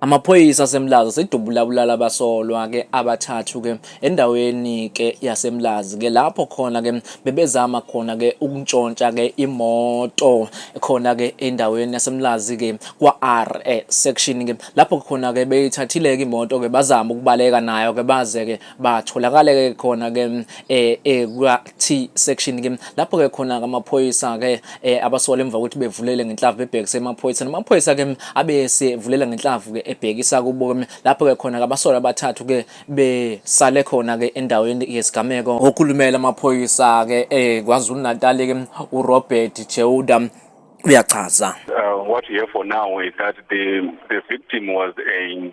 Amaphoyisa aseMlazi asedubula bulala abasolwa ke abathathu ke endaweni ke yaseMlazi ke lapho khona ke bebezama khona ke ukuntshontsha ke imoto khona ke endaweni yaseMlazi ke kwa R section ke lapho khona ke beyithathile ke imoto ke bazama ukubaleka nayo ke baze ke batholakale ke khona ke eh, eh kwa T section ke lapho ke khona amaphoyisa ke eh, abasola emva kokuthi bevulele ngenhlavu bebhekise emaphoyisa namaphoyisa ke abese vulela ngenhlavu ke ebhekisa kubo lapho ke khona abasola abathathu ke besale khona ke endaweni yesigameko okhulumela amaphoyisa ke eh KwaZulu Natal ke uRobert Cheuda uyachaza uh, what we have for now is that the the victim was a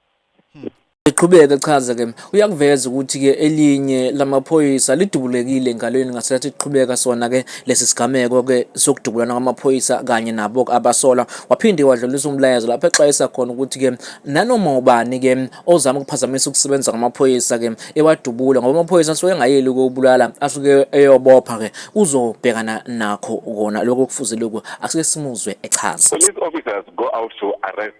Iqhubeke chaza ke uyakuveza ukuthi ke elinye lamaphoyisa lidubulekile engalweni ngasathi iqhubeka sona ke lesi sigameko ke sokudubulana kwamaphoyisa kanye nabo abasola waphinde wadlulisa umlayezo lapho exwayisa khona ukuthi ke nanoma ubani ke ozama ukuphazamisa ukusebenza kwamaphoyisa ke ewadubula ngoba amaphoyisa asuke engayeli ukubulala asuke eyobopha ke uzobhekana nakho kona lokho kufuze lokho asike simuzwe echaza police officers go out to arrest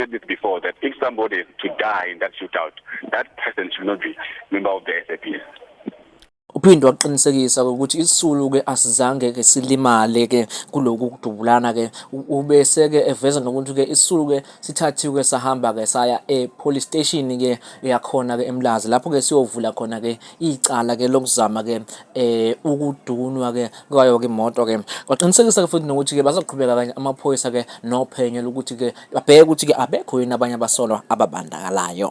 said this before that if somebody is to die in that shootout, that person should not be member of the SAPS. Uphinde waqinisekisa ukuthi isisulu ke asizange ke silimale ke kuloku kudubulana ke ubese ke eveza nokuthi ke isisulu ke sithathiwe sahamba ke saya e police station ke yakhona ke eMlazi lapho ke siyovula khona ke icala ke lokuzama ke eh ukudunwa ke kwayo ke imoto ke kwaqinisekisa ke futhi nokuthi ke bazoqhubeka kanye amaphoyisa ke nophenyo lokuthi ke babheke ukuthi ke abekho yini abanye abasolwa ababandakalayo